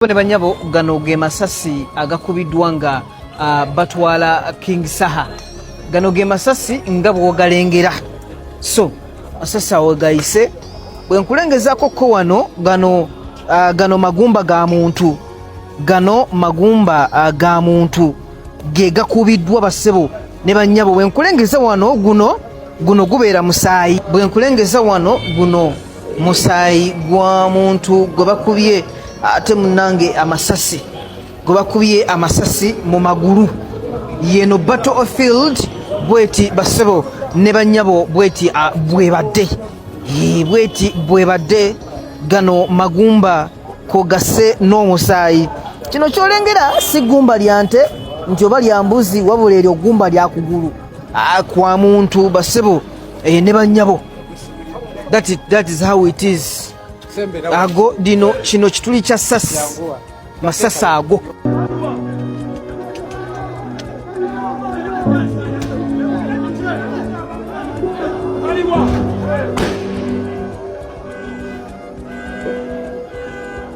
Sebo ne banyabo gano ge masasi agakubiddwa nga uh, batwala King Saha. Gano ge masasi nga bwogalengera. So masasi awo gayise bwe nkulengezaako ko wano gano uh, gano magumba ga muntu gano magumba uh, ga muntu ge gakubiddwa basebo ne banyabo bwe nkulengeza wano guno guno gubeera musaayi bwe nkulengeza wano guno musaayi gwa muntu gwe bakubye ate munange amasasi gwe bakubye amasasi mu magulu yeno battle of field bweti basebo ne banyabo bweti bwebadde bweti bwebadde gano magumba kogase n'omusaayi kino kyolengera si gumba lya nte nti oba lya mbuzi wabula eryo gumba lya kugulu kwa muntu basebo eh, ne banyabo that, it, that is how it is ago dino kino kituli kya sasi masasi ago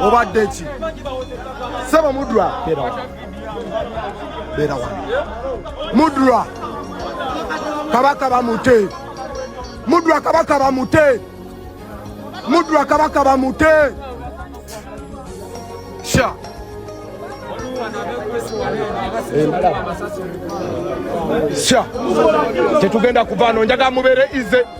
obadde ki sebo mudra beera wano mudra kabaka bamute mudra kabaka bamute mudra kabaka bamute sha sha tetugenda kuvaano njaga mubeere ize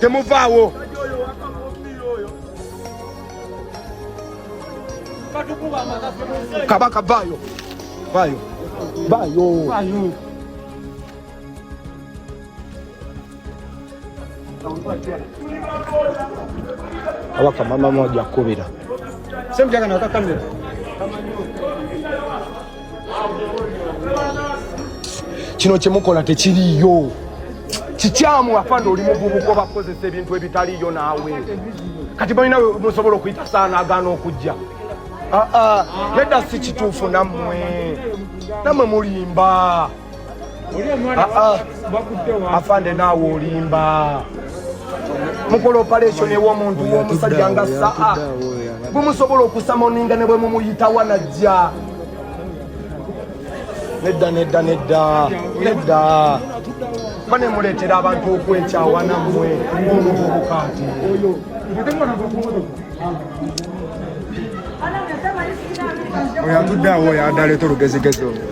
temuvaawo kabaka vaayo vaayo vaayo awaka mama moja kubira semjagana wakakamira kino kyemukola tekiriyo kikyamu afande oli muvubuka obakozesa ebintu ebitaliyo naawe kati balina musobola okuyita saana agaana okujja aa ah, ah, nedda si kituufu nammwe nammwe mulimba Ah, ah. afande naawe olimba mukola operation ewomuntu womusajja nga saa gumusobola okusamoninga ne bwe mumuyita wanajja nedda nedda nedda nedda ba ne muleetera abantu okwekyawa nammwe omuvubuka nti oyo atudde awo oyo adaleeta olugezigezi olwo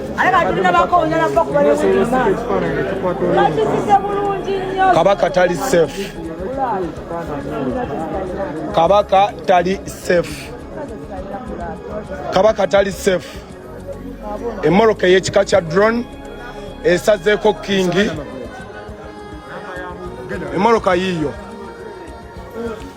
kabaka tali safe kabaka tali safe kabaka tali safe emoroka eyekika kya drone esazeeko kingi emoroka yiyo Thank you.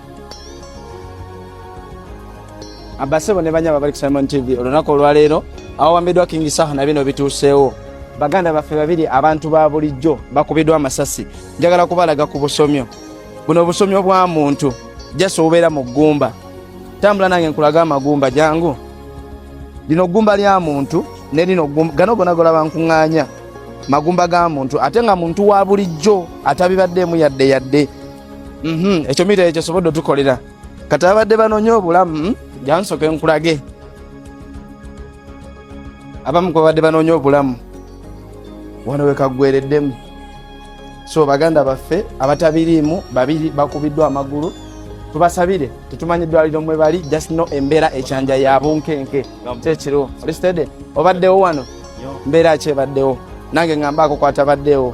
abasebo ne banyaba bali ku Simon TV olunaku olwaleero awawambiddwa King Saha na bino bituuseewo baganda baffe babiri abantu ba bulijjo bakubiddwa amasasi njagala kubalaga ku busomyo buno obusomyo bwa muntu jasi obubeera mu ggumba tambula nange nkulaga amagumba jangu lino ggumba lya muntu ne lino gano gona golaba nkuŋŋaanya magumba ga muntu ate nga muntu wa bulijjo atabibaddeemu yadde yadde Mhm, ekyo mita ekyo sobodde otukolera kati abadde banonya obulamu hmm? jansoke nkulage abamu ku babadde banonya obulamu wano wekaggwereddemu so baganda baffe abatabiriimu babiri bakubiddwa amagulu tubasabire tetumanyi eddwaliro mwe bali just no embeera ekyanja ya bunkenke kyekiriwo olistede obaddewo wano mbeera ki ebaddewo nange ngambe akokwata baddewo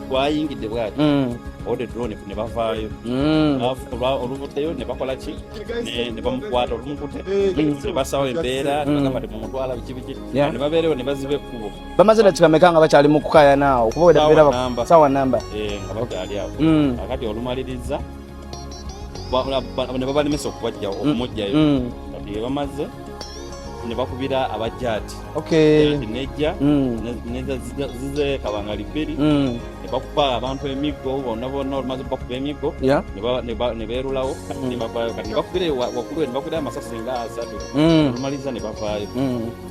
gwayingidde bwati mm. ode drone ne bavaayo mm. oluvuddeyo ne bakola ki ne bamukwata olumukute mm. ne basawo embeera nebagamba ti mumutwala biki biki ne babeerewo ne baziba ekkubo bamaze na kikameka nga bakyali mu kukayanaawo kuba wedabeera sawa namba eh, nga bakyali awo akati olumaliriza ne babalemesa okubajjawo mm. okumujjayo mm. kati bebamaze ne bakubira abajjaati nejja zize kabangali bbiri ne bakuba abantu emiggo bonna bonna olumaze bakuba emiggo ne beerulawo kati ne bavaayo kati ne bakubira wakulwe ne bakubira amasasi nga asatu olumaliza ne bavaayo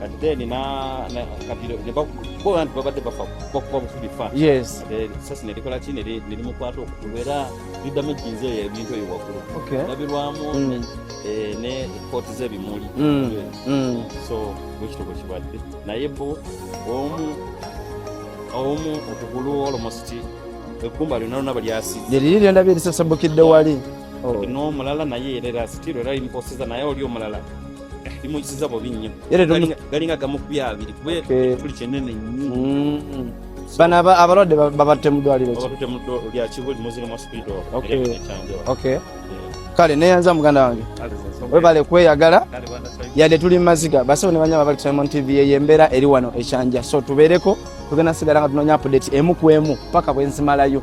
kati then na na kati ne ba ko abantu babadde bafa ko ko bufubi fa yes eh sasa ne likola chini ne ne mukwata okubera lidda mu jinze ya bintu yo wakuru okay nabirwamu mm. eh ne court ze bimuli mm. mm. so which to kibadde naye bo omu omu okugulu almost ekumba lino nabo lyasi yeri lyo ndabye lisasambukidde wali oh. n'omulala naye era sitiro era imposiza naye oli omulala bimuziza bobi nnyo galinga gamu ku byabiri kuba ekituli kyenene nnyo mm. bano abalwadde babatte mu ddwaliro lya kibuli muzira mwa spido kale neyanza muganda wange webale kweyagala yadde tuli mu maziga basebo ne banyama bali kusaimon tv eyo embeera eri wano ekyanja so tubeereko tugenda sigala nga tunonya apudeti emu ku emu paka bwenzimalayo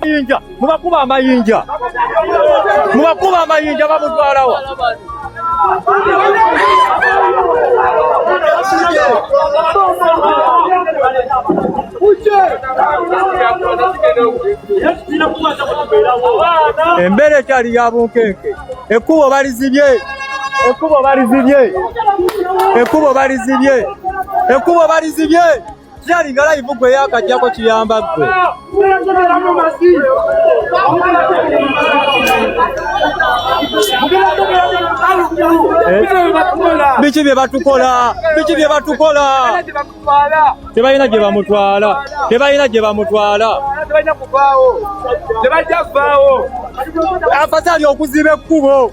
Mayinja mubakuba amayinja mubakuba amayinja bamutwalawa embeera ekyali ya bunkenke ekkubo balizibye Ekkubo balizibye, ekkubo balizibye, ekkubo balizibye. Kyalinga layivu gwe yakajjako kiyamba ggwe. Biki bye batukola, biki bye batukola. Tebalina gye bamutwala, tebalina gye bamutwala. Tebajja kuvaawo. Afasali okuziba ekkubo.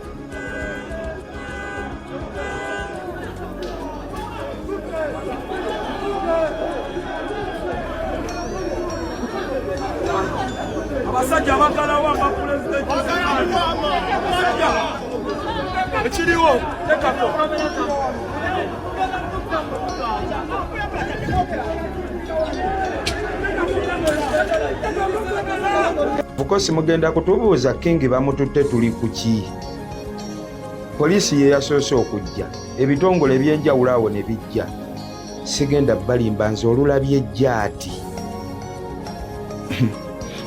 abasajja bagalawo aba pulezidenti ekiriwo tekako mukosi mugenda kutubuuza kingi bamututte tuli ku ki poliisi ye yasoose okujja ebitongole ebyenjawulo awo ne bijja sigenda balimba nze olulabye jaati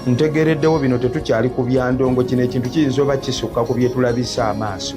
ntegereddewo bino tetukyali ku byandongo kino ekintu kiyinza oba kisukka ku byetulabisa amaaso